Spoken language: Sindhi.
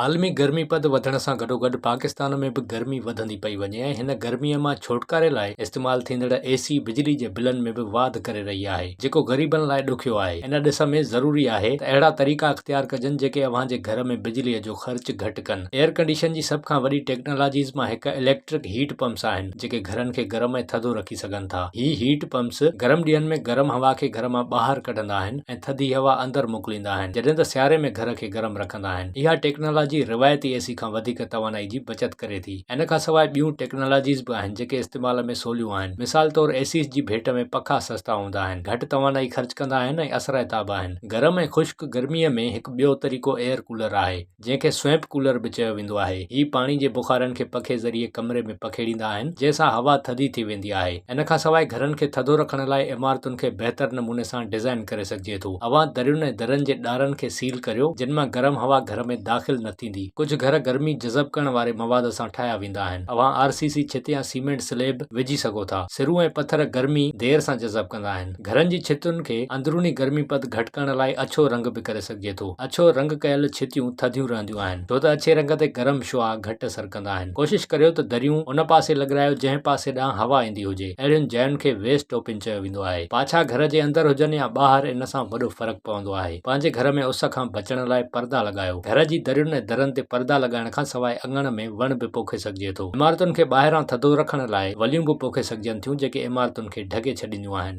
عالمي گرمي پد وڌڻ سان گڏوگڏ پاڪستان ۾ به گرمي وڌندي پئي وڃي ۽ هن گرمي مان ڇوٽڪاري لاء استعمال ٿيندڙ اي سي بجلي جي بلن ۾ به واڌ ڪري رهي آهي جيڪو غريبن لاء ڏکيو آهي ان ڏس ۾ ضروري آهي ته اهڙا طريقا اختيار ڪجن جيڪي اوهان جي گهر ۾ بجلي جو خرچ گهٽ ڪن ايئر ڪنڊيشن جي سڀ کان وڏي ٽيڪنالاجيز مان هڪ اليڪٽرڪ هيٽ پمپس آهن جيڪي گهرن کي گرم ۽ ٿڌو رکي سگهن ٿا هي هيٽ پمپس گرم ڏينهن ۾ گرم هوا کي گهر مان ٻاهر ڪڍندا آهن ۽ ٿڌي هوا اندر موڪليندا آهن جڏهن ته سياري ۾ گهر کي گرم رکندا ڪندا آهن. اها ٽيڪنالاجي روايتي اي سي کان وڌيڪ توانائي جي بچت ڪري ٿي. ان کان سواء ٻيون ٽيڪنالاجيز به آهن جيڪي استعمال ۾ سوليون آهن. مثال طور اي سيز جي ڀيٽ ۾ پکا سستا هوندا آهن، گهٽ توانائي خرچ ڪندا آهن ۽ اثرائتا به آهن. گرم ۽ خشڪ گرمي ۾ هڪ ٻيو طريقو ايئر ڪولر آهي، جنهن کي سوئمپ ڪولر به چيو ويندو آهي. هي پاڻي جي بخارن کي پکي ذريعي ڪمري ۾ پکيڙيندا آهن، جنهن سان هوا ٿڌي ٿي ويندي آهي. ان کان سواء گهرن کي ٿڌو رکڻ لاء عمارتن کي بهتر نموني سان ڊزائين ڪري سگهجي ٿو. چئي ٿو، اوهان درين ۽ درن جي ڏارن کي سيل ڪريو، جن مان گرم هوا گهر ۾ داخل نه ٿيندي. ڪجهه گهر گرمي جذب ڪرڻ واري مواد سان ٺاهيا ويندا آهن. اوهان آر سي سي ڇت يا سيمينٽ سليب وجهي سگهو ٿا. سرون ۽ پٿر گرمي دير سان جذب ڪندا آهن. گهرن جي ڇتن کي اندروني گرمي پد گهٽ ڪرڻ لاء اڇو رنگ به ڪري سگهجي ٿو. اڇو رنگ ڪيل ڇتيون ٿڌيون رهنديون آهن، ڇو ته اڇي رنگ تي گرم شعاع گهٽ اثر ڪندا آهن. ڪوشش ڪريو ته دريون ان پاسي لڳرايو جنهن پاسي ڏانهن هوا ايندي هجي. اهڙين جاين کي ويسٽ اوپن چيو ويندو آهي. پاڇا گهر جي اندر هجن يا ٻاهر ان سان وڏو فرق پوندو آهي. پنهنجي گهر ۾ اس کان بچڻ لاء پردا لڳايو. گهر جي درين ۽ درن تي پردا لڳائڻ کان سواء اڱڻ ۾ وڻ به پوکي سگهجي ٿو. عمارتن کي ٻاهران ٿڌو رکڻ لاء وليون به پوکي سگهجن ٿيون جيڪي عمارتن کي ڍڪي ڇڏينديون آهن.